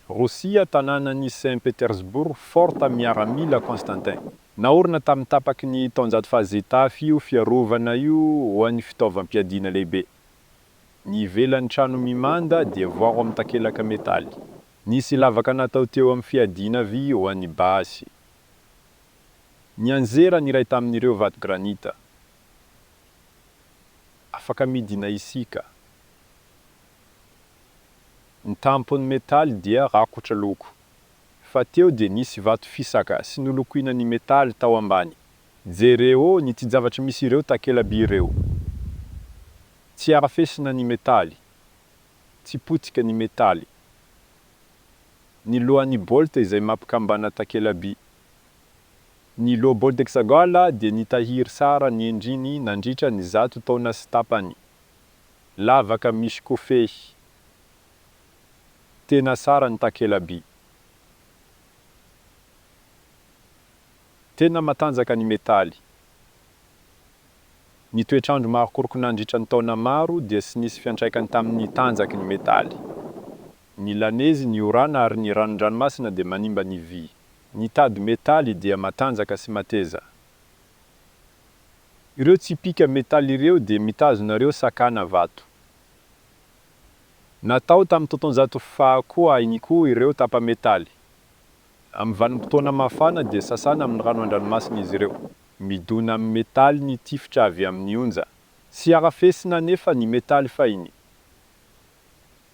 Rosia, tanànan'i Saint Petersbourg, Forta miaramila Constantin. Naorina tamin'ny tapaky ny taonjato fahazetafy io fiarovana io ho an'ny fitaovam-piadiana lehibe. Ny ivelan'ny trano mimanda dia voaro amin'ny takelaka metaly. Nisy lavaka natao teo amin'ny fiadiana vy ho an'ny basy. Nianjera ny iray tamin'ireo vato granita. Afaka midina isika. Ny tampon'ny metaly dia rakotra loko. Fa teo dia nisy vato fisaka sy nolokoina ny metaly tao ambany. Jereo ny tsijavatry misy ireo takela-by ireo. Tsy arafesina ny metaly. Tsy potika ny metaly. Ny lohan'ny baolta izay mampikambana takela-by. Ny loha baolta exagol dia nitahiry sara ny endriny nandritra ny zato taona sy tapany. lavaka misy kofehy. Tena tsara ny takelaby. Tena matanjaka ny metaly. Ny toetr'andro marokoroko nandritra ny taona maro dia tsy nisy fiantraikany tamin'ny tanjaky ny metaly. Ny lanezy, ny orana ary ny ranon-dranomasina dia manimba ny vy. Ny tady metaly dia matanjaka sy mateza. Ireo tsipika metaly ireo dia mitazona ireo sakana vato. Natao tamin'ny taontaonjato faha koa iny koa ireo tapa-metaly. Amin'ny vanim-potoana mafana dia sasana amin'ny rano an-dranomasina izy ireo. Midona amin'ny metaly ny tifitra avy amin'ny onja. Tsy arafesina anefa ny metaly fahiny.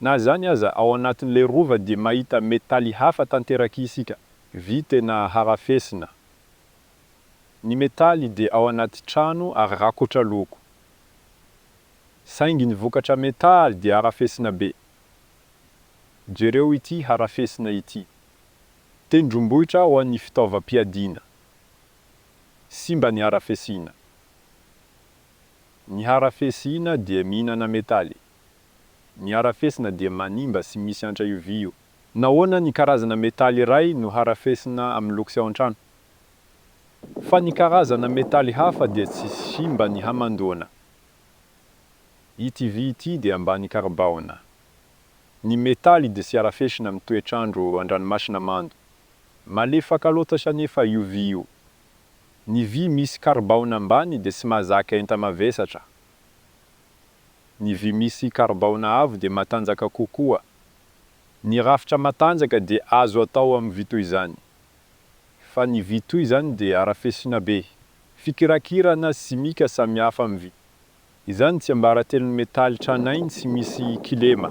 Na izany aza, ao anatin'ilay rova dia mahita metaly hafa tanteraka isika. Vy tena harafesina. Ny metaly dia ao anaty trano ary rakotra loko. Saingy ny vokatra metaly dia harafesina be. Jereo ity harafesina ity. Tendrombohitra ho an'ny fitaovam-piadiana. Simba ny harafesina. Ny harafesina dia mihinana metaly. Ny harafesina dia manimba sy misy antra io vy io. Nahoana ny karazana metaly iray no harafesina amin'ny loksy ao an-trano, fa ny karazana metaly hafa dia tsy simba ny hamandoana? Ity vy ity dia ambany karibaona. Ny metaly dia tsy harafesina amin'ny toetr'andro an-dranomasina mando. Malefaka loatra anefa io vy io. Ny vy misy karibaona ambany dia tsy mahazaka enta-mavesatra. ny vy misy karibaona avo dia matanjaka kokoa. Ny rafitra matanjaka dia azo atao amin'ny vy toy izany. Fa ny vy toy izany dia arafesina be. Fikirakirana simika samihafa amin'ny vy. Izany tsiambaratelon'ny metaly tranainy sy misy kilema.